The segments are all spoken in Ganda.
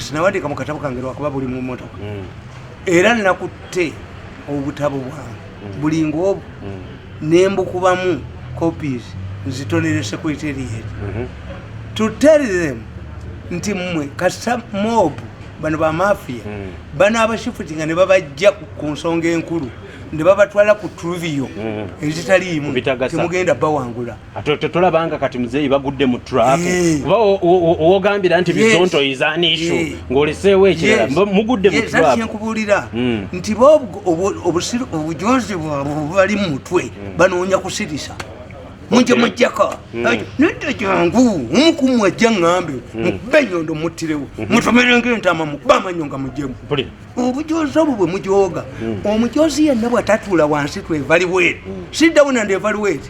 sinawandiika mu katabo kange lwakuba buli mu motoka mm. era nakutte obutabo bwange mm. buli ngaobu mm. nembukubamu copies nzitonere secretariat mhm. to tell them nti mmwe kasita mob bano bamafia bano abashifuti nga ne babajja ku nsonga enkulu ne babatwala ku truvio ezitaliimu temugenda bawangula tolabanga kati muzeeyi bagudde mu trap eh. kuba wogambira nti bizonto izani ishu eh. ng'oleseewo ekirala mugudde mu trap nkubuulira hmm. nti bo obujonzi bwabwe bubali mu mutwe hmm. banoonya kusirisa munje mujjako hmm. nedda jangu omukumu ajja ngambe mukube enyondo muttirewo mutomerenga entama mukube amanyo nga mujemu obujozi obwo bwe mujooga omujozi yenna bwatatuula wansi twevaliweeti siddawo nandevaliweeti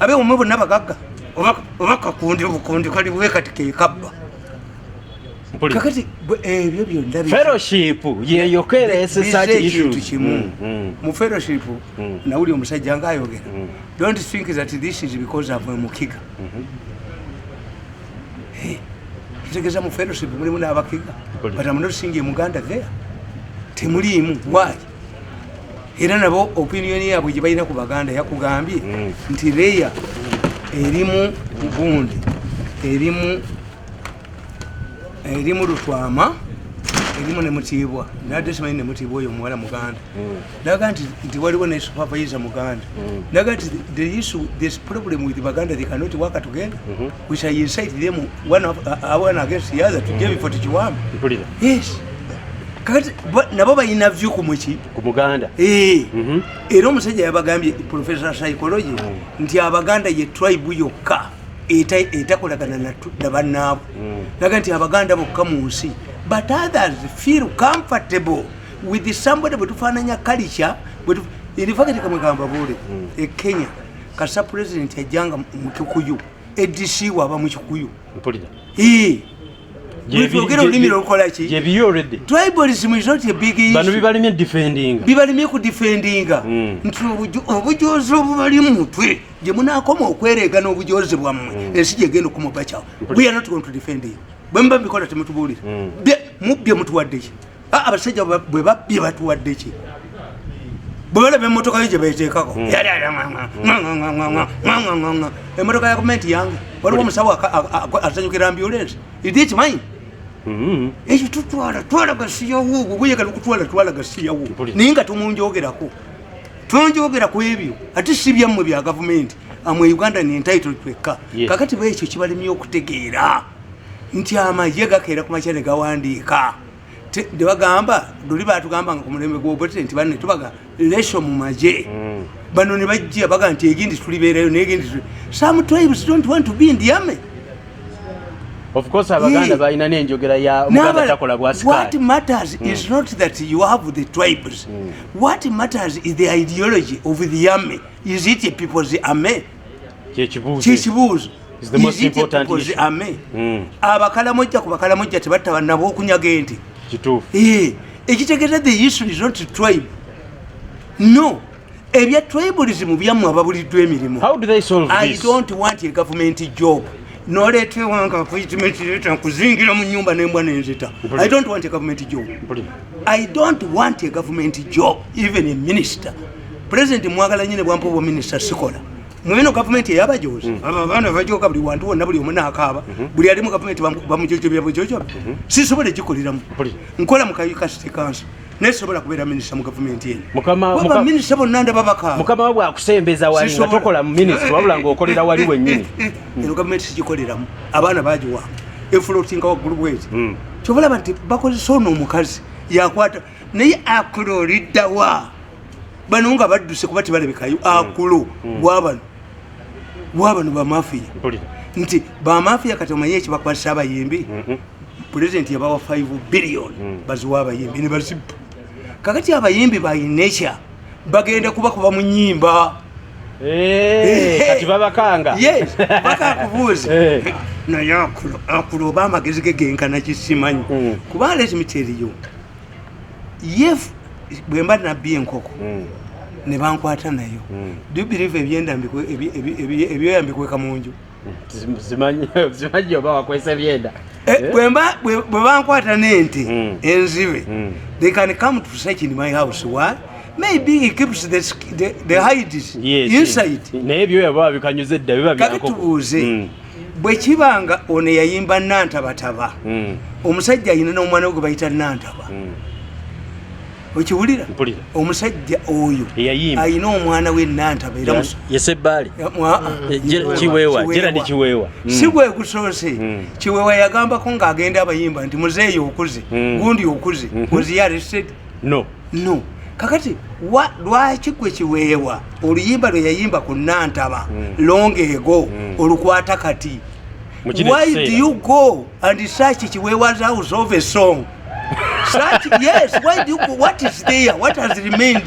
abe umwe bonna bagagga oba kakundi obukundi kali bwe kati kekabba kakati ebyo eh, byonna fellowship yeyokereesesakintu kimu mm, mm. mu fellowship mm. nawuli omusajja nga ayogera don't think that this is because of mukiga mm-hmm. eh, kitegeza mu fellowship mulimu n'abakiga but am not seeing muganda there temuliimu why era nabo opiniyoni yaabwe gye balina ku baganda yakugambye mm. nti leya erimu gundi erimu erimu lutwama erimu nemutiibwa nadde simanyi nemutiibwa oyo omuwala muganda mm. naga nti nti waliwo ne supervisa muganda mm. naga nti the issue this problem with baganda they cannot work together mm-hmm. we shall incite them one of uh, uh one against the other to give for tichiwama mpulira yes kati nabo balina vyu ku muki ku muganda eh mhm. era omusajja yabagambye professor psychology mm. nti abaganda ye tribe yokka etakolagana na bannaabo mm. naga nti abaganda bokka mu nsi but others feel comfortable with somebody bwetufaananya kalica in fact kamwe kambabuule mm. e kenya kasa president yajjanga mu kikuyu adc waba mu kikuyu byogera olulimi lwokukolaki tribalism is not a big issue bibalimye defendinga bibalimye ku defendinga hmm. nti obujozi obubali mumutwe gye munakoma okwereega n'obujozi bwammwe hmm. ensi gyegenda okumubacawo we are not going to defend you bwe muba mubikola temutubuulira hmm. mubye mutuwaddeki Ah, abasajja bwe babbye batuwadde ki bwe balaba emmotoka yo gye beeteekako hmm. emmotoka ya gavumenti yange waliwo omusawo asanyukira ambulensi idi ekimanyi hmm. ekyo tutwala twala gasiyawo gwegweyagala okutwala twala gasiyawo naye nga tumunjogerako tonjogera ku ebyo ate si byammwe bya gavumenti amwe uganda ni entitle twekka kakati bwekyo kibalemye okutegeera nti amagye gakeera ku makya ne gawandiika tebagamba doli batugamba nga kumulembe gwobete nti banne tubaga lesho mu maje mm. bano ne bajja baga nti egindi tulibeerayo negendi some tribes don't want to be in the army of course abaganda balina nenjogera ya muganda takola bwa sikati what matters mm. is not that you have the tribes mm. what matters is the ideology of the army is it a people's army kyekibuuzo kyekibuuzo Is the most Is it important because issue. ame Mm. abakalamojja ku bakalamojja tebatta banabo okunyaga ente kituufu Eh, ekitegeeza the issue is not tribe no ebya tribalism byammwe ababuliddwa emirimu how do they solve i this don't want a government job noleeta ewanga appointment leeta nkuzingira mu nyumba nembwa nenzita Mpulira. i don't want a government job Mpulira. i don't want a government job even a minister pulezidenti mwagala nyine bwampa obwa minisita sikola mweno gavumenti eyabajozi mm. abaana bajoka buli wantu wonna buli omuna akaaba mm-hmm. buli ali mu gavumenti bamujojobya bujojobi mm-hmm. sisobola egikoleramu nkola mu kayukasiti kanso naye sobola kubeera minisita mu gavumenti enominisita bonna ndaba bakaamukama wa bwakusembeza wali nga tokola mu minisita wabula ngaokolera wali wennyini eno gavumenti sigikoleramu abaana bagiwamba efulotinga waggulu bwezi mm. kyobalaba nti bakozesa ono omukazi yakwata naye akulo oliddawa bano nga badduse kuba tebalabikayo mm. akulo mm. wabano wabano bamafiya nti bamafiya kati omanye ekibakwasa abayimbi mm-hmm. pulezidenti yabawa 5 billion mm. baziwa abayimbi nebazi kakati abayimbi bayineca bagenda kubakuba mu nyimba eh, kati babakanga bakakubuuzi eh. naye akulo oba amagezi ge genkana kisimanyi kuba alezimiteriyo yef bwemba nabbi enkoko mm. nebankwata nayo mm. do you believe ebyenda ebyoya mbikweka munju bwebankwata nente mm. enzibe mm. they can come to search in my house why maybe he keeps the, the, the hides yes, inside naye byoya baba bikanyuze dda biba byankoko kakitubuuze mm. bwe kiba nga ono eyayimba nantabataba hmm. omusajja ayina n'omwana we gwe bayita nantaba hmm. okiwulira omusajja oyo ayina omwana we nantaba erayesebaali kiweewa geradi kiweewa hmm. si gwe gusoose kiweewa yagambako ng'agenda abayimba nti muzeeyi okuze gundi okuze oziyaresed no no kakati wa lwaki gwe kiweewa oluyimba lwe yayimba ku nantaba hmm. long ego hmm. olukwata kati why do you go and search kiweewa's house of a song such yes why do you go what is there what has remained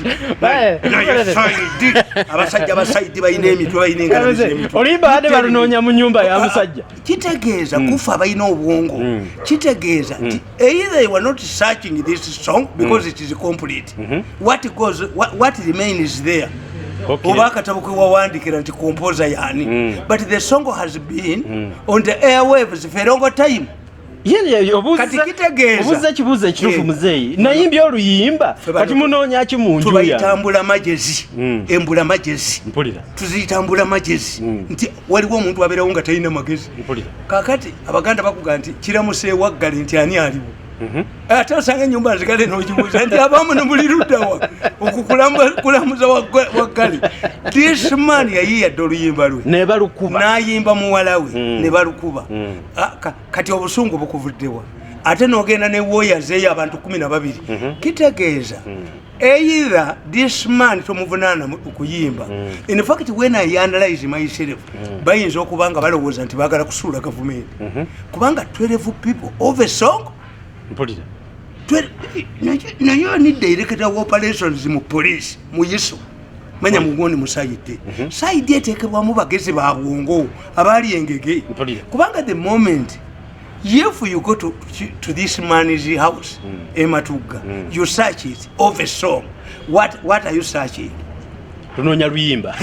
abasajja abasaidi balina emitwe balina engalo oluyimba bade balunoonya mu nyumba ya musajja kitegeeza mm. kufa abalina obwongo mm. kitegeeza mm. nti either you are not searching this song because it is complete mm-hmm. what goes what remains there oba akatabo kewawandikira nti composer yani but the song has been on the airwaves for a longer time kati kitegeezaobuza ekibuuzo ekituufu eh. muzeeyi nayimbye oluyimba kati munoonya ki mu njutubayitambula magezi hmm. embula magezi tuziyitambula magezi hmm. nti waliwo omuntu abeerawo nga talina magezi kakati abaganda bakuga nti kiramuseewaggale nti ani aliwo mhm. eh, ate osanga enyumba nzigale nogibuuza nti abamu nebuli luddawa okukulamuza waggale this man yayiyadde oluyimba lwe nebalukuba nayimba muwalawe hmm. nebalukuba ah, kati obusungu bukuvuddewa ate nogenda ne warriors eyo abantu kumi na babiri mhm. kitegeeza mhm. either this man tomuvunaana kuyimba mhm. in fact when i analyze myself bayinza okuba nga balowooza nti bagala kusuula gavumenti kubanga 12 people of a song naye ni director of operations mu police mu yiso manya mugundi musayidde mhm. sayidi eteekebwamu bagezi ba bwongo abaali engege kubanga the moment if you go to, to this man's house mm. ematugga mm. you search it of a song what, what are you searching tunoonya luyimba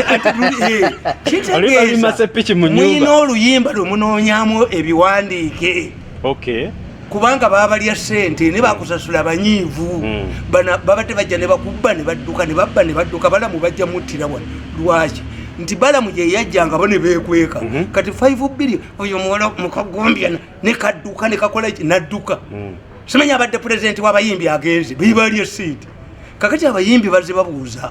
kitegeeza muyina oluyimba lwemunoonyamu ebiwandiike okay. kubanga babalya sente ne bakusasula abanyiivu hmm. babadde bajja ne bakubba ne badduka ne babba ne badduka balamu bajja muttira wano lwaki nti balamu gyeyajjanga bo ne beekweka mhm. kati 5 billion oyo muwala mukagombya ne kadduka ne kakola ki nadduka hmm. simanya abadde pulezidenti w'abayimbi agenze bebalya sente kakati abayimbi baze babuuza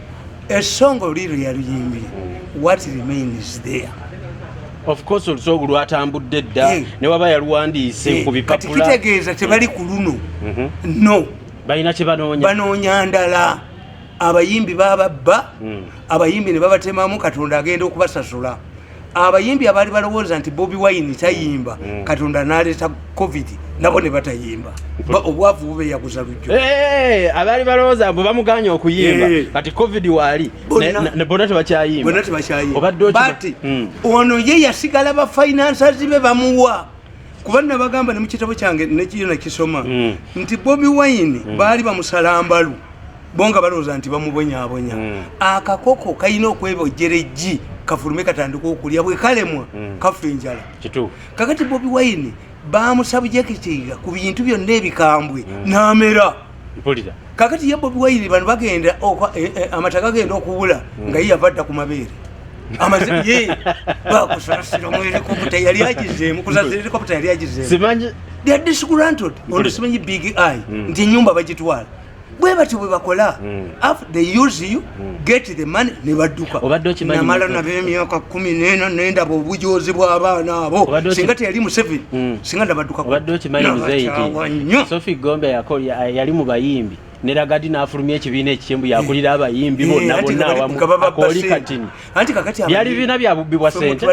esonga oli lwe yaluyimbye what remains there of course olusoogo lwatambudde dda eh. ne waba yaluwandiise eh, ku bipapula kitegeeza tebali ku luno mhm. no balina kyebanoonya banoonya ndala abayimbi bababba hmm. abayimbi ne babatemamu katonda agenda okubasasula abayimbi abaali balowooza nti bobi wine tayimba mm. katonda naleeta covid nabo ne batayimba obwavu bube yaguza lujjo eh, eh, eh, abaali balowooza bwe bamuganya okuyimba kati covid waali bona tebakyayimba obaddebati mm. ono ye yasigala ba finances be bamuwa kuba nabagamba ne mu kitabo kyange nekiyo nakisoma mm. nti bobi wine baali bamusalambalu bo nga balowooza nti bamubonyabonya mm. akakoko kalina okwebojjera eggi kafulume katandika okulya bwe kalemwa mm. kafa enjala kakati bobi wine bamusabujekitiga ku bintu byonna ebikambwe mm. namera kakati ye bobi wine bano bagenda eh, eh, amata gagenda okubula mm. nga ye yava dda ku mabeere bakusasira mu helikopta yali agizeemu kusasira helikopta yali agizeemu simanyi big eye nti enyumba bagitwala bwe batyo bwe bakola mm. after they use you mm. get the money ne badduka namala nabo emyaka kumi nena nendaba obujozi bw'abaana abo singa teyali museveni mm. singa nabaddukaobadde okimanyi muzeyiti sofi gombe yali mu bayimbi neragadi nafulumya ekibiina ekikyembu yakulira eh. abayimbi bonna eh, bonna awamu akoli katini byali bibiina bya bubbi bwa sente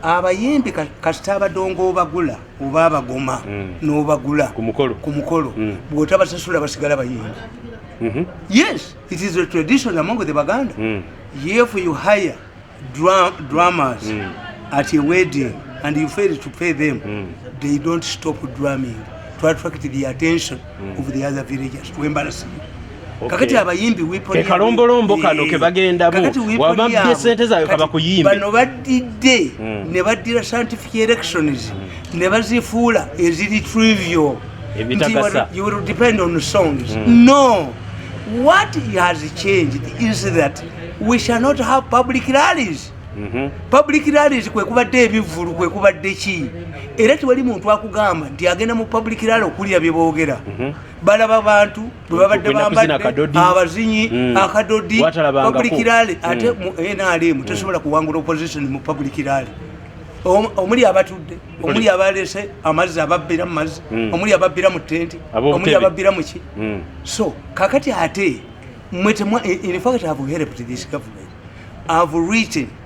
abayimbi kasita abadongo obagula oba abagoma mm. nobagula ku mukolo mm. bwotabasasula basigala bayimbi mm-hmm. yes it is a tradition among the baganda mm. if you hire drummers at a wedding and you fail to pay them they don't stop drumming to attract the attention of the other villagers to embarrass you kakati abayimbi wipo kalombolombo kano kebagenda bo wababye sente zayo kaba kuyimba bano badidde hmm. ne badira scientific elections hmm. ne bazifuula eziri trivial ebitagasa you will depend on songs hmm. no what has changed is that we shall not have public rallies Mm-hmm. public rallies kwe kubadde ebivvulu kwe kubadde ki era tewali muntu akugamba nti agenda mu public rally okuwulira bye boogera mm-hmm. balaba bantu bwebabadde bambadde abazinyi hmm. akadodi public rally hmm. ate mu nrm hmm. tesobola kuwangula opposition mu public rally omuli abatudde omuli abalese amazzi ababbira mu mazzi omuli ababbira mu tenti omuli ababbira mu ki so kakati ate mwe temwa in fact have helped this government have written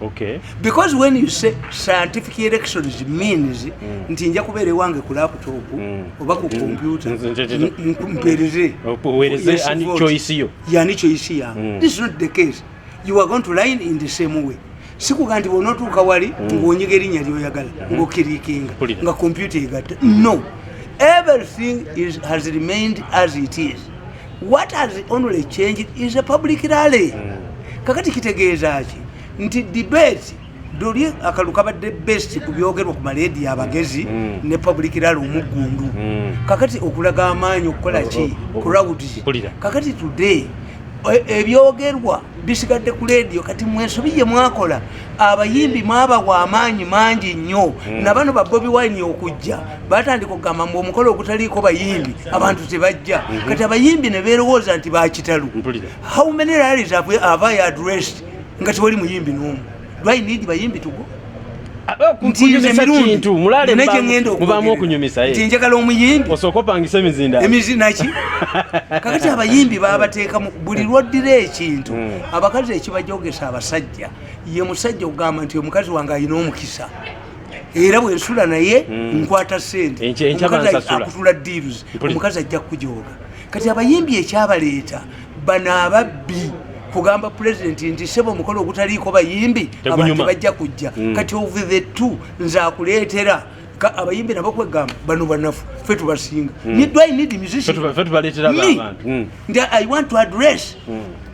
Okay. Because when you say scientific elections means mm. nti nja kubeera ewange ku laptop mm. oba ku kompyuta mpereze yani choice yange mm. this is not the case you are going to line in the same way sikuga nti bwonotuuka wali mm. ngaonyiga erinnya lyoyagala mm-hmm. ngaokirikinga nga kompyuta egatta no everything is, has remained as it is what has only changed is a public rally mm. kakati kitegeeza ki nti debate doli akalu kabadde best ku byogerwa ku maleedi abagezi mm. ne public rally omuggundu mm. kakati okulaga amaanyi okukola oh, ki oh, oh, crowds kakati today e, ebyogerwa bisigadde ku leediyo kati mwensobi ye mwakola abayimbi mwabawa amaanyi mangi nnyo nabano babobi wine okujja batandika okugamba mbu omukolo ogutaliiko bayimbi abantu tebajja mhm. kati abayimbi ne beerowooza nti bakitalu how many rallies ava ya addressed nga tewali muyimbi n'omu do i need bayimbi tugo ntinjagala omuyimbiemizinaki kakati abayimbi babateekamu buli lwoddira ekintu hmm. abakazi ekibajogesa abasajja ye musajja okugamba nti omukazi wange alina omukisa era bwensula naye mm. nkwata sente akutula deals omukazi ajja kujooga kati abayimbi ekyabaleeta bano ababbi kugamba pulezidenti nti sebo omukolo ogutaliiko bayimbi abantu bajja kujja mm. kati of the two nze akuleetera abayimbi nabo kwegamba bano banafu fe tubasinga mm. nidwainidmusician mm. nti i want to address mm.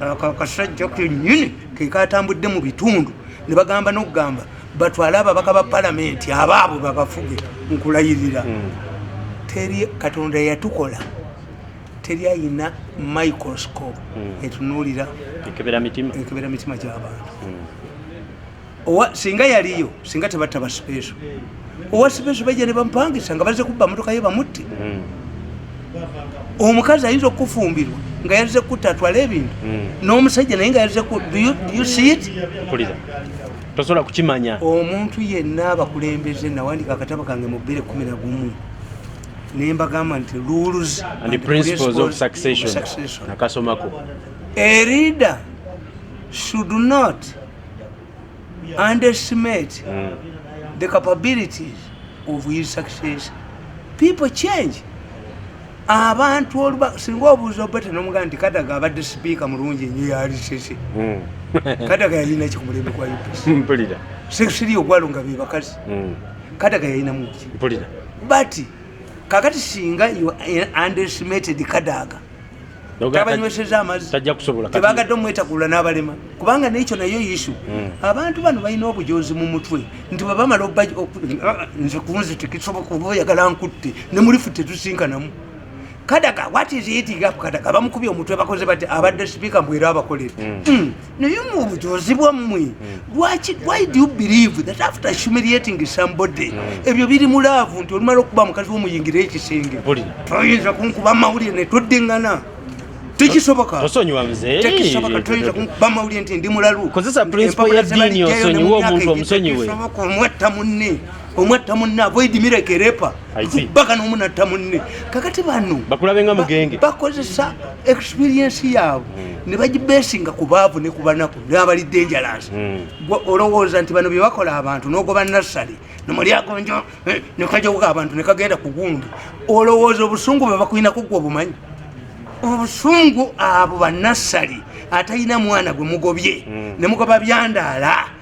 akasajja kenyini kekatambudde mu bitundu ne bagamba n'okugamba batwale ababaka ba palamenti abaabwe babafuge nkulayirira hmm. teri katonda yatukola teri ayina microscope hmm. etunuulira ekebera mitima gy'abantu hmm. owa singa yaliyo singa tebatta basipeeso owa sipeeso bajja ne bamupangisa nga baze kubba motoka ye bamutte hmm. omukazi ayinza okufumbirwa nga yaze kutta atwala ebintu hmm. n'omusajja naye nga yaze kusiit tosobola kukimanya omuntu yenna abakulembeze nawandika akatabo kange mu bbiri kumi na gumu nembagamba nti rules and principles of succession nakasomako a reader should not underestimate mm. the capabilities of his success people change abantu oluba singa obuuza obete nomugaa nti kadaga abadde sipiika mulungi enyo yalisese mm. kadaga yalina ki kumulembe kwa upc mpulira sesiri ogwalo nga bebakazi mm. kadaga yalina muki mpulira but kakati singa underestimated kadaga tabanyweseza amazitebagadde omwetakulula n'abalema kubanga nekyo nayo yisu hmm. abantu bano balina obujozi mu mutwe nti bwebamala nze kunzi tekisoboka oba oyagala nkutte ne mulifu tetusinkanamu kadaga watiziyitigakukadaga bamukubye omutwe bakoze bati abadde sipiika mbwera abakolera hmm. hmm. naye mubujozi bwammwe hmm. why do you believe that after humiliating somebody hmm. ebyo biri mu laavu nti olumala okuba mukazi womuyingira ekisenge toyinza kunkuba amawulire netodingana tekisoboka osonyiwa mzee tekisoboka toyinza kunkuba amawulire nti ndi mulalu kozesa principle ya dini osonyiwa omuntu omusonyiwe omwetta munne omwatta munne avoid mireke repa baka nomunatta munne kakati bano bakozesa experiensi yaabwe hmm. nebagibesinga ku baavu ne kubanaku nabali dangerous hmm. olowooza nti bano byebakola abantu nogoba nassale nomulyagonjo eh, nekajoka abantu nekagenda ku gundi olowooza obusungu bwebakulinako gwe obumanyi obusungu abo banassale atalina mwana gwe mugobye hmm. nemugoba byandaala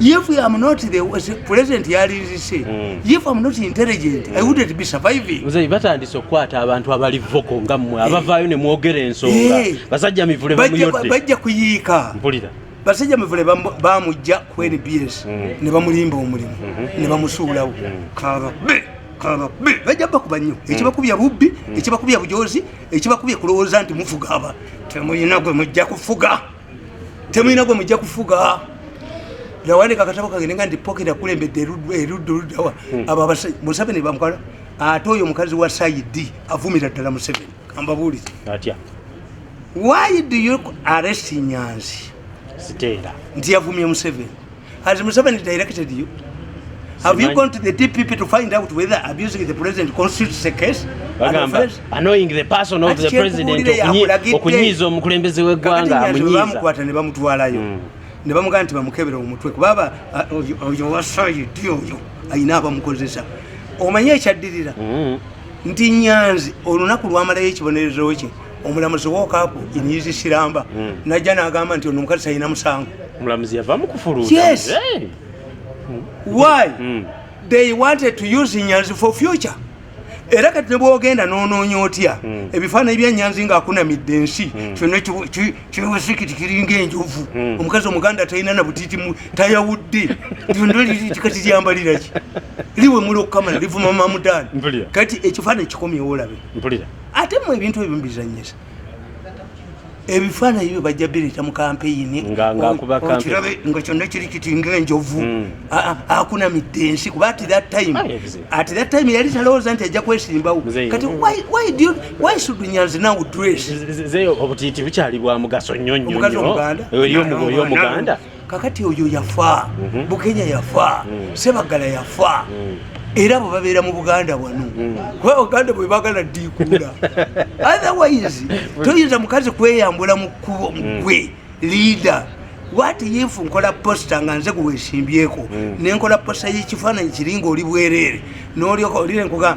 if i am not the president yalirise mm. if i'm not intelligent mm. i wouldn't be surviving mzee batandise okukwata abantu abali voko nga mwe eh. abavaayo ne mwogera ensonga eh. basajja mivule bamuyodde bajja kuyiika mpulira basajja mivule bamujja ku nbs mm. ne bamulimba omulimu mm-hmm. ne bamusuulawo mm. kaba be kaba be bajja bakuba nnyo mm. ekibakubya bubbi mm. ekibakubya bujozi ekibakubya kulowooza nti mufuga aba temuyina gwe mujja kufuga temulina gwe mujja kufuga yawandika akatabo kange nenga ndi pocket akulembedde erudda oluddawa hmm. abo abasajja museveni bamukwala ate oyo omukazi wa saidi avumira ddala museveni kambabuuliza atya why do you arrest nyanzi siteera nti yavumye museveni Has Museveni directed you? Have you gone to the DPP to find out whether abusing the president constitutes a case? Bagamba annoying the person of the president okunyiiza omukulembeze w'eggwanga amunyiiza. Bamukwata ne bamutwalayo hmm. ne bamugamba nti bamukebere omutwe kubaba oyo wasayi ddi oyo alina abamukozesa omanyi ekyaddirira hmm. nti nyanzi olunaku lwamalayo ekibonerezo kye omulamuzi wokapu enyizi siramba hmm. najja nagamba nti ono omukazi talina musango omulamuzi yava mukufulu yes eh. why hmm. they wanted to use nyanzi for future era kati nebwogenda nonoonya otya hmm. ebifaananyi bya nyanzi nga akunamidde ensi kyona kiwesikiti kiringa enjovu omukazi omuganda talina na butiti tayawudde kati lyambaliraki liwe muli okukamala livuma mamudani kati ekifaananyi kikomyewo olabe ate mu ebintu ebyo mubizanyisa ebifaananyi byo bajja bireeta mu kampeyini ngakirabe nga kyonna kiri kiti ngaenjovu hmm. akunamidde ensi kuba at that time ah, at that time yali talowooza nti ajja kwesimbawo kati why should nyanzi now dress obutiiti bukyali bwa mugaso nnyo nnyo eri omuganda kakati oyo yafa mhm. bukenya yafa mhm. sebagala yafa mhm. era abo babeera mu buganda wano kuba buganda bwe bagala ddiikuula otherwise toyinza mukazi kweyambula mu kkubo mugwe liida wati yifu nkola posita nga nze gwewesimbyeko nenkola posita yekifaananyi kiringa oli bwereere nolyoka olire nkuga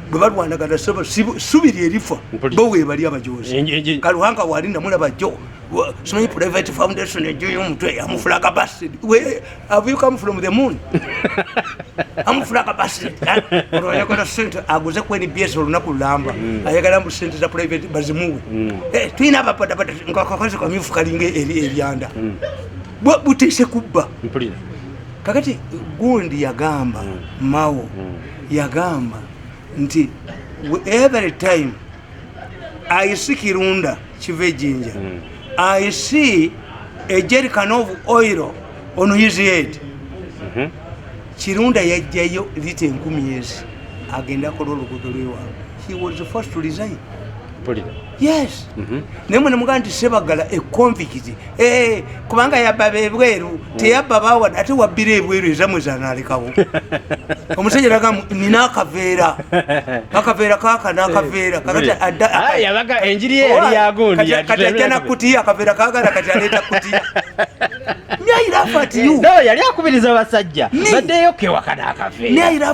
bwe balwanagana subi lyerifa bo webali abajozi kaluhanga wali namulaba jo simanyi private foundation ejo yomutwe amufulaga basid have you come from the moon amufulaga basid olwo ayagala sente aguze ku nbs olunaku lulamba mm. ayagala mbu sente za private bazimuwe mm. eh, tulina abapadapata nkakazi kamyufu kalinga eryanda mm. butise kubba kakati gundi yagamba mawo yagamba nti every time i see kirunda kiva ejinja hmm. i see a jerican of oil on his head mhm. kirunda yajjayo lita enkumi ezi agenda akola oluguudo lwewaabwe he was the first to resign yes mhm. naye mwe nemugaa nti sebagala ekonvikizi eh, kubanga yabba bebweru mm. teyabba bawa ate wabbira ebweru ezamwe zanalekawo omusajja laga nina akaveera akaveera kaka nakaveera eh, kakatiajja ah, nakutiya akaveera kagala kati aleeta kutiya yali akubiriza basajja baddeyo kewakana akaveera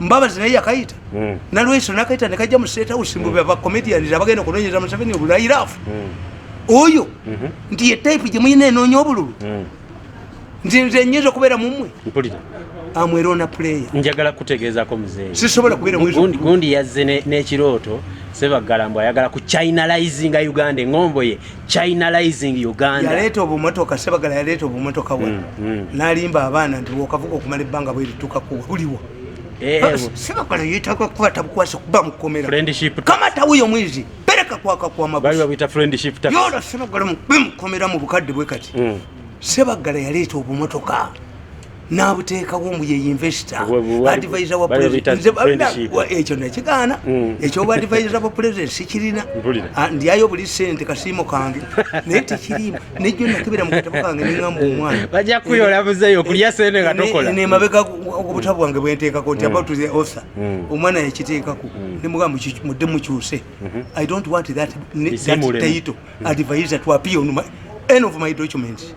mbabazi naye yakayita hmm. nalweso nakayita nekajja mu state house mbu baba comedians abagenda okunonyeza museveni obulairafu hmm. oyo mhm. nti ye type gye muyina enoonya obululu hmm. nti nze nyinza okubeera mumwe mpulira amwerona player njagala kutegeezako muzeeyi sisobola kubeera gundi yazze n'ekirooto sebagala mbu ayagala ku chinalizinga uganda engombo ye chinalizing uganda yaleeta obumotoka sebagala yaleeta obumotoka wa mm, mm. nalimba abaana nti wokavuga okumala ebbanga bweritukaku buliwo eh, eh, sebagala yetaga kuba tabukwasa kuba mukomerakamatawiyo mwizi pereka kwakakwamayola sebagala bemukomera mu bukadde bwe kati mm. sebagala yaleeta obumotoka n'abuteekawo mbu ye investor advisor wa presidentnekyo eh, nekigaana mm. ekyoba advisor wa president sikirina ah, ndyayo buli sente kasiimo kange naye tekirimu nejjo nakibera mu katabo kange neŋamba omwana bajja kuyola muzeeyo kulya sente nga tokola nemabega obutabu bwange bwenteekako nti mm. about the author mm. omwana yakiteekako nemugamba mudde mukyuse mm-hmm. i don't want that, that title mm-hmm. advisor to appear on my, end of my documents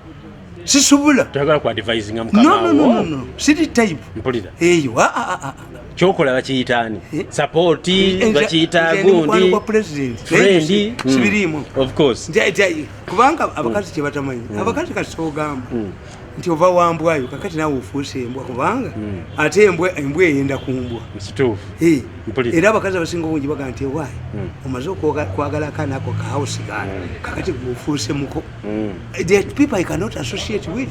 sisobola toyagala ku advisinga mukama no, no, no, no. siri type mpulira eyo a a a kyokola bakiyita ani eh? sapoti eh, bakiyita gundi kwa president frendi hmm. sibirimu of course nja nja kubanga hmm. abakazi mm. kyebatamanyi mm. abakazi kasogamba mm. nti ova wambwayo kakati nawe ofuuse embwa kubanga mm. ate embwa embwa eyenda kumbwa msitufu hey. Eh, era abakazi abasinga obungi baga nti ewayi mm. omaze okwagala akanako kahausi gana mm. kakati ofuuse muko mm. the people i cannot associate with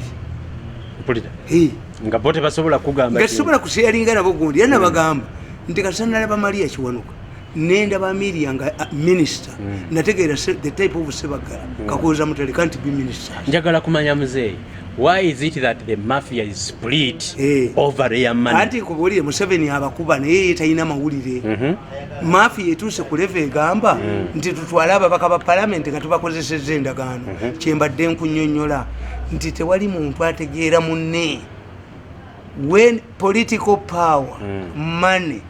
mpulira hey. nga bo tebasobola kugamba nga tesobola kusharinga nabo gundi era nabagamba mm. nti kasana nalaba maria kiwanuka nendaba miria nga uh, minister mm. nategeera the type of sebagala mm. kakuuza mutale can't be minister njagala kumanya muzeeyi why is it that the mafia is split hey. Eh. over their money anti kubulire museveni abakuba naye talina mawulire mm -hmm. maafi yetuuse ku leva egamba mm. nti tutwale ababaka ba palamenti nga tubakozeseza endagaano mm-hmm. kyembadde nkunyonyola nti tewali muntu ategeera munne when political power mm. money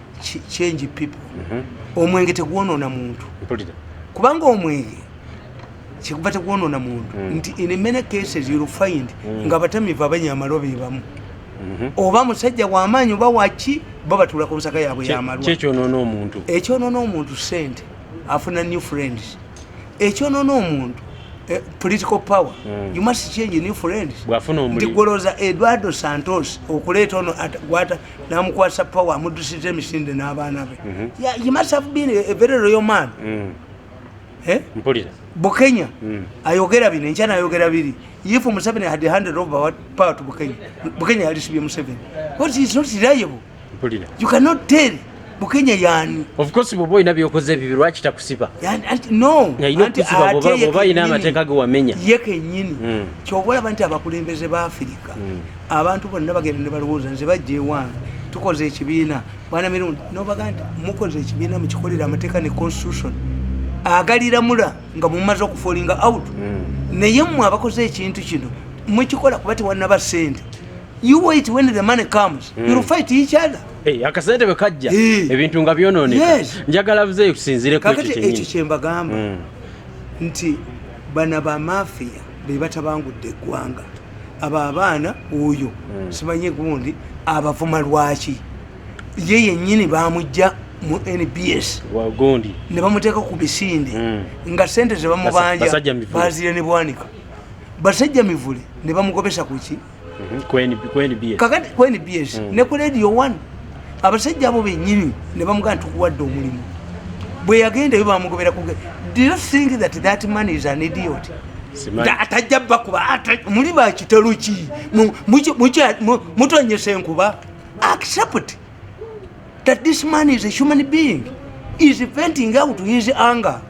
change people mm-hmm. omwenge tegwonoona muntu kubanga omwenge kikuba tegwonoona muntu mm. nti in many cases you'll find mm. nga abatamivu abanyamalo bebamu mhm. oba musajja wamaanyi oba waki bo batula ku nsaka yaabwe yamalwaekyonoona omuntu ekyonoona omuntu sente afuna new friends ekyonoona omuntu eh, political power mm. you must change new friends ndigoloza eduardo santos okuleeta ono gwata namukwasa power amudusiza emisinde n'abaana be mm -hmm. yeah, you must have been a very royal man mm. eh? mpulira bukenya mm. ayogera bino enkya nayogera biri if museveni had handed over power to bukenya bukenya yalisibye museveni what is not reliable mpulira you cannot tell bukenya yani of course bwoba olina byokoze ebibyo lwaki takusiba no yalina okusiba bwoba olina amateeka ge wamenya ye kenyini mm. kyoba olaba nti abakulembeze ba afirika mm. abantu bonna bagenda ne balowooza nze bajja ewange tukoze ekibiina bwana mirundi nobaga nti mukoze ekibiina mukikolera amateeka ne constitution agaliramula nga mumaze okufolinga out hmm. naye mwe abakoze ekintu kino mukikola kuba tewanaba sente you wait when the money comes mm. you'll fight each other hey, eh, akasente bwe kajja hey. Eh. ebintu nga byononeka yes. njagala buze kusinzire kakati ekyo kyembagamba mm. nti bana ba mafia bebatabangudde eggwanga abo abaana oyo hmm. simanye gundi abavuma lwaki ye yenyini bamujja mu nbs wagundi ne bamuteeka ku bisinde hmm. nga sente ze bamubanja bazire ne bwanika basajja mivule ne bamugobesa kuki mhm. ku nbs kakati ku nbs hmm. ne ku radio one abasajja abo benyini ne bamugamba tukuwadde omulimu bwe yagenda eyo bamugobera kuge do you think that that man is an idiot atajja bakuba muli bakitalo ki mutonyesa enkuba accept that this man is a human being is venting out his anger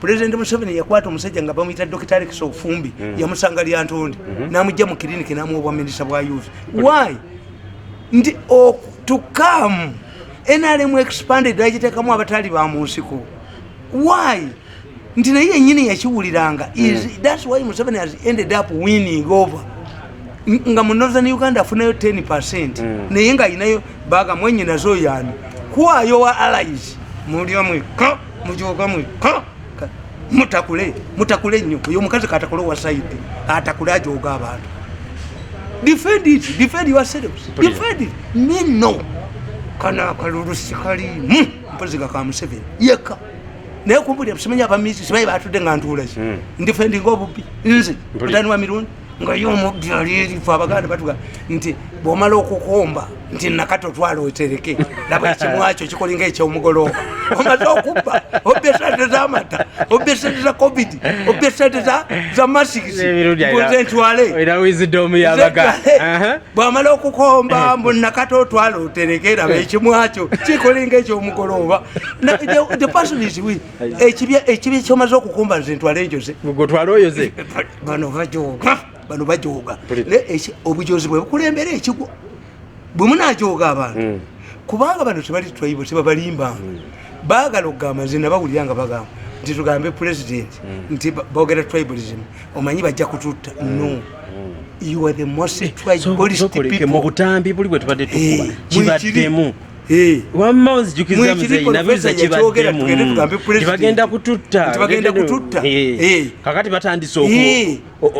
Pulezidenti Museveni yakwata omusajja nga bamuyita Dokita Alex Ofumbi mm. yamusanga lyantonde mm -hmm. n'amujja mu kiriniki n'amuwa obwaminisita bwa youth why nti oh, to come nrm expanded nagiteekamu abataali ba mu nsiko why nti naye yennyini yakiwuliranga mm. thats why museveni has ended up winning over nga mu northern uganda afunayo 10 percent mm. naye nga ayinayo baga mwenyinazo yani kwayo wa allies muli omweko mujoga mwe mutakule mutakule nnyo oyo omukazi katakule owa saidi atakule ajoga abantu defend it defend yourselves defend it me no kana akalulu sikalimu mpozi gaka museveni yeka naye kumbulira simanya abamizi sibaye batudde nga ntuulaki hmm. ndifendinga obubbi nze mutani wa mirundi nga ye omubbi ali erifu abaganda batuga nti bwomala okukomba nti nakati otwala otereke laba ekimwakyo kikolinga ekyomugolooba omaze okubba obba esente zamata obba esente za covid obba esente za masikisi nze ntwale bwamala okukomba mbu nakati otwala otereke laba ekimwakyo kikolinga ekyomugolooba the person is with ekibya ekibya kyomaze okukumba nze ntwale njoze gwe twale oyoze bano bajoga bano bajoga obujozi bwe bukulembera ekigwo bwe munajoga abantu hmm. kubanga bano tebali twaibo tebabalimba hmm. bagala okugamba nze nabawulira nga bagamba nti tugambe president hmm. nti bogera tribalism omanyi bajja kututta no you are the most tribalist people mu butambi buli bwe tubadde tukuba eh, kibaddemu wamma onzijukiza muzeyi nabuliza kibaddemu tibagenda kututta kakati batandise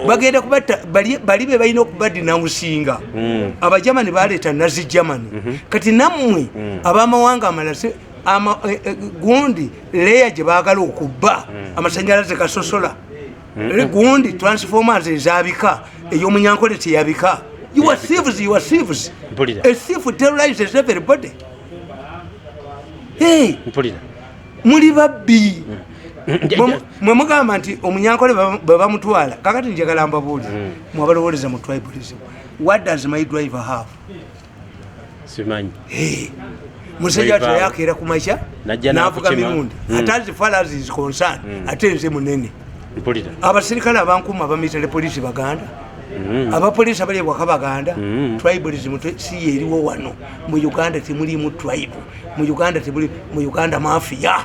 bagenda kubatta bali be balina okubaddi namusinga hmm. abajamani baleeta nazi jamani mhm. kati nammwe hmm. abamawanga amala eh, eh, gundi leya gye baagala okubba hmm. amasanyalaze gasosola gundi transformers ezabika eyomunyankole teyabika your thieves your thieves a thief terrorizes everybody hey mpulira muli babbi mwe mugamba nti omunyankole bwe bamutwala kakati njagala mbabuulire mm. mwabalowoleza mu tribalism what does my driver have simanyi musajja watu yakeera ku makya navuga mirundi hmm. ate as far as is concerned hmm. ate nze munene abaserikale abankuuma abamitale polisi baganda hmm. abapolisi abali ewaka baganda tribalism si yeriwo wano mu uganda temulimu tribe mu uganda temuli mu uganda mafia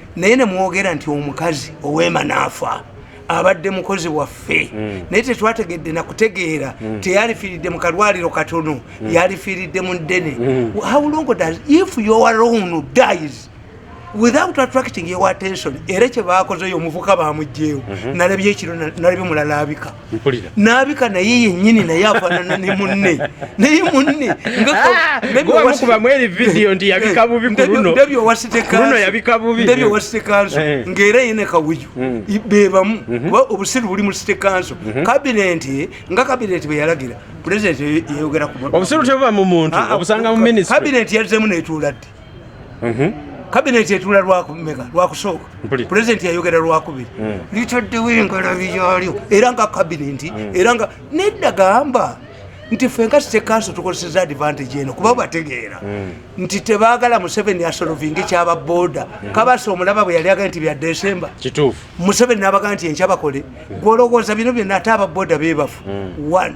naye nemwogera nti omukazi owema naafa abadde mukozi waffe mm. naye tetwategedde nakutegeera mm. teyalifiiridde mu kalwaliro katono mm. yalifiiridde mu ddene mm. how long does if your own dies without attracting your attention era kyebakozeyo omuvuka bamugyewo mm-hmm. nalabye ekiro nalabye mulalaabika nabika naye yenyini naye afanana ne munne naye munne ngaabyowasitekansobwewasitekanso eh, eh. ngaera yene kawuyu hmm. bebamu mhm. kuba obusiru buli mu site kanso mhm. kabineti nga kabineti bweyalagira pulezidenti yeyogera kuobusiru tebuba mu muntu ah, ah, obusanga mu minisitri kabineti yazemu netuuladde kabineti etula lwakumeka lwakusooka pulezidenti yayogera lwakubiri hmm. litaddewo engalabi yalyo era nga kabineti hmm. era nga nedda gamba nti fe nga site kanso tukozeseza advantage eno kuba bategeera hmm. nti tebagala museveni asolovinga ekyaba boda kabasa omulaba bwe yali agaa nti bya desemba museveni nabagaa nti enkyabakole gwolowooza bino byonna ate ababoda bebafu one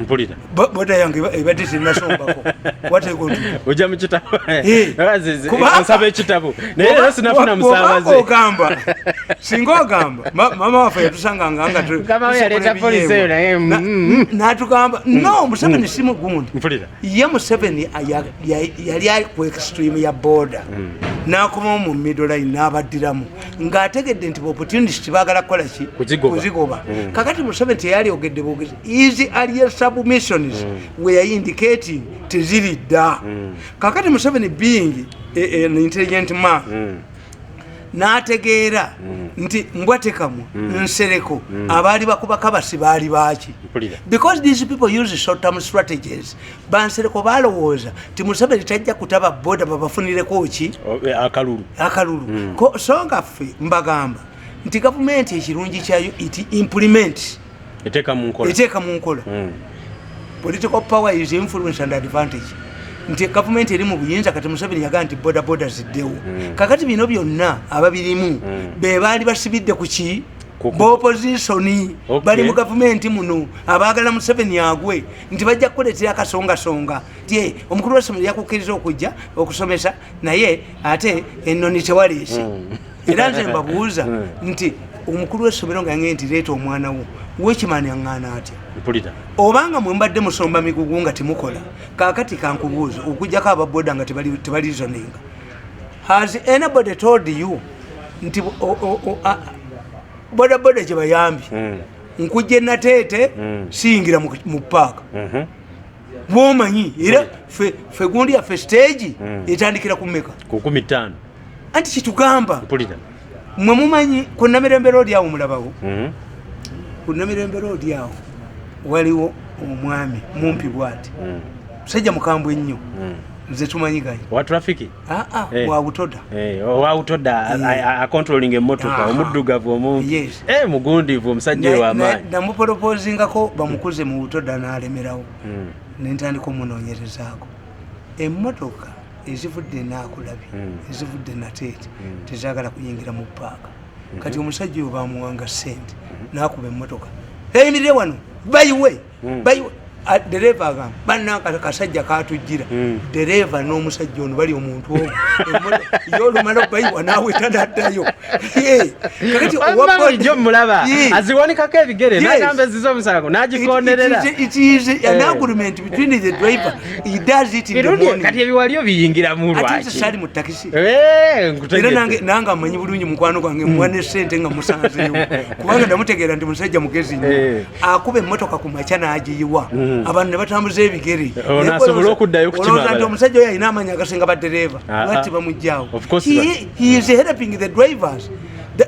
mpulira boda yange ebadde tenasombako oja mukitaboonsaba ekitabo naye era sinafuna musabazeogamba singa ogamba mama waffe yatusanga ngangatyaleta polisi eyo naye mm, mm. natugamba mm. no museveni si mugundi mpulira ye museveni yali ku extreme ya boda nakomawo mu middle line nabaddiramu ng'ategedde nti opportunist baagala kukola ki kuzigoba hmm. kakati musabe nti eyali ogedde bwogezi easy alien submissions hmm. were indicating teziri dda hmm. kakati museveni being e, e, an intelligent man n'ategeera nti mbwatekamwa nsereko abaali bakubakabasi baali baaki because these people use short term strategies bansereko balowooza ti museveni tajja kutaba boda babafunireko ki eh, akalulu akalulu mm. so nga ffe mbagamba nti gavumenti ekirungi kyayo iti implement eteeka mu nkola mm. political power is influence and advantage nti gavumenti eri mu buyinza kati museveni yagaa nti bodaboda ziddewo mm. kakati bino byonna ababirimu mm. be baali basibidde ku ki bopozisoni bali mu gavumenti muno abaagala museveni agwe nti bajja kukuleetera akasongasonga ti eh, omukulu wessomero yakukkiriza okujja okusomesa naye ate enoni tewaliisi hmm. era nze mbabuuza hmm. nti omukulu wessomero nga nge nti leeta omwana wo wekimani aŋŋaana atya obanga mwe mbadde musomba migugu nga temukola kakati kankubuuza okujjako ababoda nga tebalizoninga has anybody told you nti bodaboda gye bayambye hmm. nkujja enateete mm. siyingira mu paaka mhm. bwomanyi era fe gundi yaffe siteegi mm. etandikira ku meka kukumi taano anti kitugamba mwe mumanyi ku namirembera oli awo mulabawo mhm. ku namirembera oli awo waliwo omwami mumpi bwati mm. musajja mukambwe ennyo nze tumanyi gayi Ah, ah, eh. wawutoda eh, oh, wawutoda eh. acontrolling emotoka ah, omuddugavu omu mugundivu omusajja eyo amaanyi namupolopozingako bamukuze mu butoda nalemerawo hmm. nentandika omunonyerezaako emotoka ezivudde nakulabi hmm. ezivudde nateete hmm. tezagala kuyingira mu paaka kati omusajja oyo bamuwanga sente nakuba emotoka eyimirire wano bayiwe hmm. dereeva agamba bananka kasajja katujjira hmm. dereeva n'omusajja ono bali omuntu omu yo olumala okubayiwa naawe tanaddayo kakatijo mulaba aziwanikako ebigere nagamba eziza omusango nagikonerera kati ebiwalio biyingira mulwakisali mu takisi eh, era nange amanyi bulungi mukwano gwange muwa hmm. ne sente nga musanzeyo kubanga namutegeera nti musajja mugezi nyo eh. akuba emmotoka ku makya n'agiyiwa mm. abantu ne batambuza ebigere onasobola oh, okuddayo kukimabala nti omusajja oyo alina amaanyi agasinga baddereeva ah, ah. lwatti bamugyawo he is helping the drivers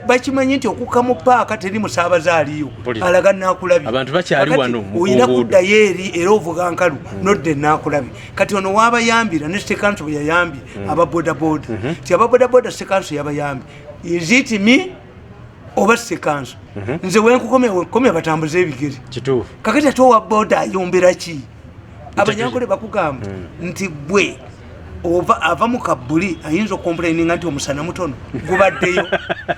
bakimanyi nti okukka mu paaka teri musaabaze aliyo alaga nakulabi abantu bakyali wano olina kuddayo eri era ovuga nkalu mm. nodda enakulabi kati ono waabayambira ne sekanso bwe yayambye mm. aba bodaboda mm-hmm. ti aba bodaboda sekanso yabayambye is it me oba sekanso mhm. nze wenkukomya wenkukomya batambuza ebigere kakati ate owa boda ayombera ki abanyankole bakugamba mm. nti gwe ova ava mu kabuli ayinza okomplaininga nti omusana mutono gubaddeyo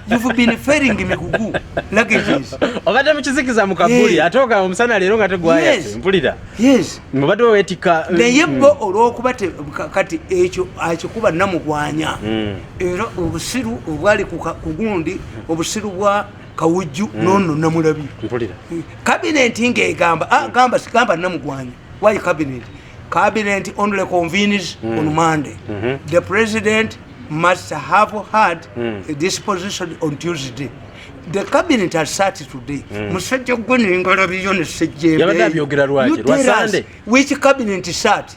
you've been failing migugu luggages obadde mukizikiza mu kabuli yeah. atoka omusana leero nga tegwaya yes. mpulira yes mubadde wewetika naye mm. bo olwokuba kati ekyo akikuba namugwanya mm. era obusiru obwali kugundi obusiru bwa kawujju mm. nono namulabi kabineti eh, ngaegamba ah, mm. gamba sigamba namugwanya why cabinet cabinet only convenes mm. on monday mm -hmm. the president must have had mm. a disposition on tuesday the cabinet has sat today mm. musajja gwe nengalabiyo nesejjembe which cabinet sat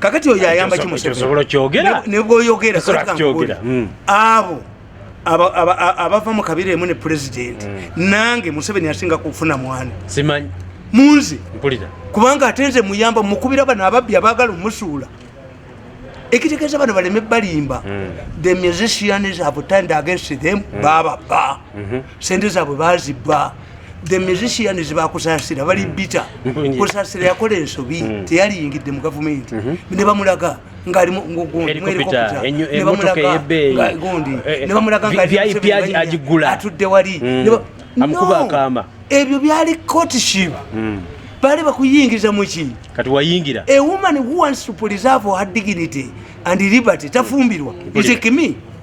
kakati oyo ayamba ki musevnebwoyogera hmm. abo abava mu kabira emu ne pulezidenti hmm. nange museveni asinga kufuna mwana simanyi munze kubanga ate nze muyamba mukubira bano ababbi abagala omusuula ekitegeeza bano baleme balimba hmm. the musicians have turned against them bababba sente zaabwe bazibba the musicians bakusasira bali mm. bita mm-hmm. kusasira yakola ensobi mm. teyaliyingidde mu gavumenti mm-hmm. ne bamulaga ngaalimuagigulatudde wali mm. ebyo byali courtship baali bakuyingiza muki kati wayingira a woman who wants to preserve her dignity and liberty tafumbirwa is a kimi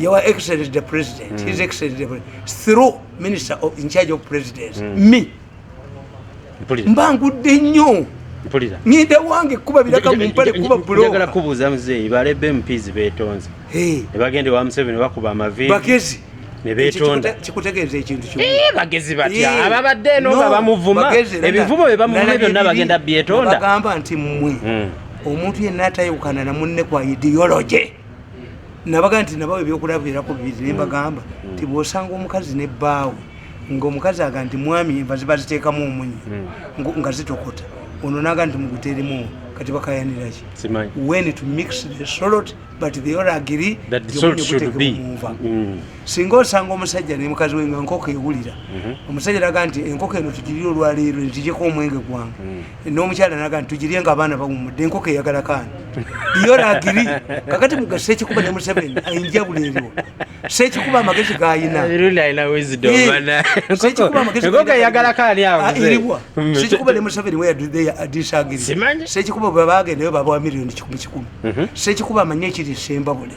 your excellence the president mm. his excellence the president through minister of in charge of presidents mm. me mba ngudde nnyo ngenda wange kuba biraka mumpale kuba bulogala kubuuza muzeeyi balebe mpizi betonze ne bagenda ewa museveni bakuba amaviiri bagezi kikutegeeza ekintu eh, bagezi batya eh, ababadde eno nga bamuvuma ebivumo bye bamuvuma byonna bagenda byetonda bagamba nti mmwe hmm. omuntu yenna atayawukana na munne kwa ideology nabaga nti nabawo ebyokulabirako bibiri nembagamba mm. nti bwosanga omukazi ne bbaawe ngaomukazi aga nti mwami enva ziba ziteekamu omunyi mm. nga zitokota ono naga nti muguteremu kati bakayaniraki wen to mix the solot but the or agiri omunyiutekemunva mm. singa osanga omusajja ne mukazi we nga nkoko ewulira mm-hmm. omusajja naga nti enkoko eno tugirire olwaleero netijeko omwenge gwange n'omukyala naga nti tugirye nga abaana bawumudde enkoko eyagala kaani yoragiri kakati muga sekikuba ne museveni enjawulo eriwo sekikuba amagezi gayina sekikuba ne museveni weyadisagiri sekikuba bwe bagendayo babawa miliyoni kikumi kikumi mhm. sekikuba amanye ekiri sembabule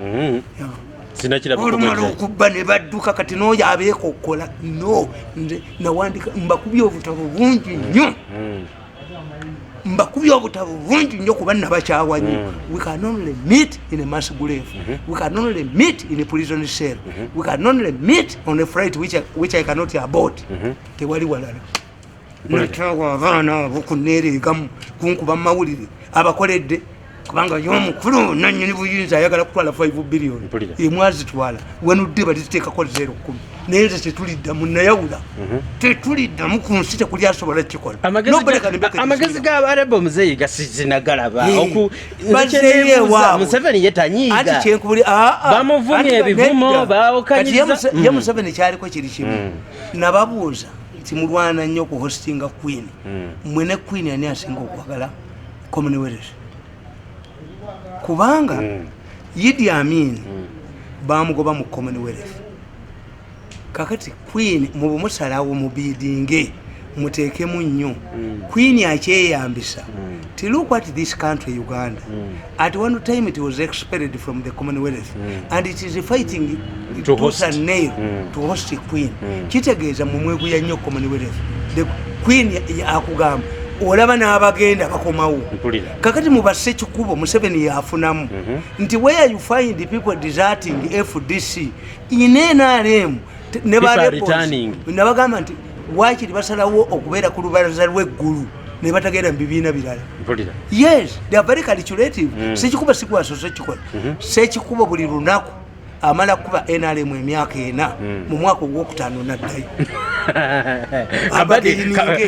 mm-hmm. olumala okubba ne badduka kati nooyo abeekokkola no nze nawandika mbakubye obutabo bungi nnyo mm-hmm. mbakubye obutabo bungi nnyo kuba nabakyawa nyo mm-hmm. we can only meet in a mass grave we can only meet in a prison cell we can only meet on a fright which I, which I cannot abort tewali walala nakyawa abaana abo kuneereegamu kunkuba mu mawulire abakoledde kubanga yo omukulu nanyini buyinza ayagala kutwala 5 billion emwazitwala wenudde baliziteekako zero kumi naye nze tetuliddamu nayawula mhm. tetuliddamu ku nsi tekuli asobola kikola amagezi gabareba omuzeeyi gasizinagalaba museveni yetanyiiga bamuvumya ebivumo bawokanyiriza ye mm. museveni kyaliko kiri kimu mm. nababuuza timulwana nnyo ku hostinga queen hmm. mwe ne queen ani asinga okwagala commonwealth kubanga hmm. yidi amin hmm. bamugoba mu commonwealth kakati queen mubumusalawo mubidinge muteekemu nnyo queen akyeyambisa tilukwat this country uganda At one time it was expelled from the Commonwealth mm. and it is fighting to, to host a nail mm. to host a queen. Mm. Kitegeeza mu mwegu ya nyo Commonwealth. The queen akugamba olaba n'abagenda bakomawo kakati mubasse kikubo museveni yafunamu mhm. nti where you find the people deserting fdc in nrm ne barebos nabagamba nti waakiri basalawo okubeera ku lubalaza lw'eggulu ne batagenda mu bibiina birala yes they are very calculative mm. sekikuba sikwaso sekikola mm-hmm. sekikuba buli lunaku amala kuba nrm emyaka ena mm. mu mwaka ogwokutaano naddayo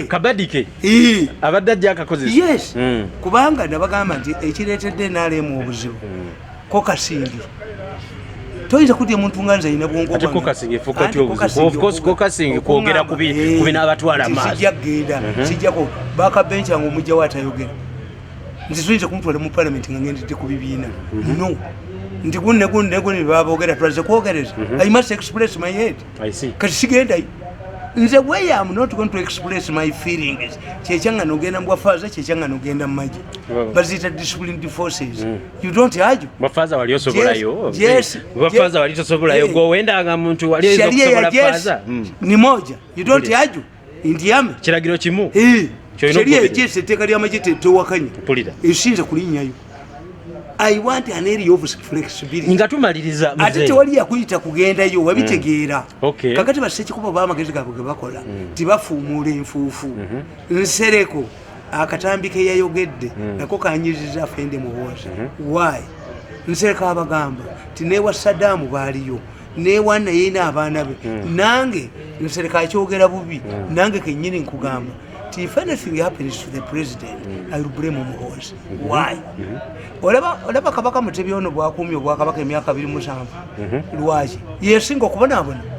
kabadike abadde ajja akakozesa yes mm. kubanga nabagamba nti ekireetedde nrm obuzibu mm. ko kasindi toyinza kudya muntu nga nze yina bwongo ati ko kasindi fuka ti obuzi of course ko kasindi kwogera kubi eh, kubi n'abatwala maaso sijja genda mhm. sijja ko baka bench yangu mujja watayogera nze soyinza kumutwala mu parliament nga ngendedde ku bibiina mhm. no nti gunne gunne gunne babogera twaze kwogereza mhm. i must express my head kati sigendayo nze way am not going to express my feelings kyekyanga nogenda mubwafaaza kyekyanga nogenda mumaje baziyita disciplined forces mm. You don't argue. Bafaza wali osobola yo. Yes. Bafaza wali osobola yo. Go wenda nga muntu wali osobola faza. Hmm. Ni moja. You don't argue. Indiame. Kiragiro kimu. Eh. Sheria yekese teka lya majete to wakanya. Pulira. Eshinza kulinya yo. I want an area of flexibility. Nga tumaliriza mzee. Atete wali ya kuyita kugenda yo wabitegeera. Mm. Okay. Kakati baseki kuba ba magezi gabwe bakola. Mm. Tibafu mure mfufu. Mm -hmm. Nsereko. akatambi keyayogedde hmm. nako kanyiriza afende muhoozi mhm. why nsereka abagamba nti newa sadaamu baaliyo newa naye naabaana be hmm. nange nsereka akyogera bubi hmm. nange kenyini nkugamba nti if anything happens to the president iwblame omuhoozi mhm. why mhm. olaba kabaka mutebi ono bwakuumi obwakabaka emyaka biri musanvu lwaki yesinga okubonabona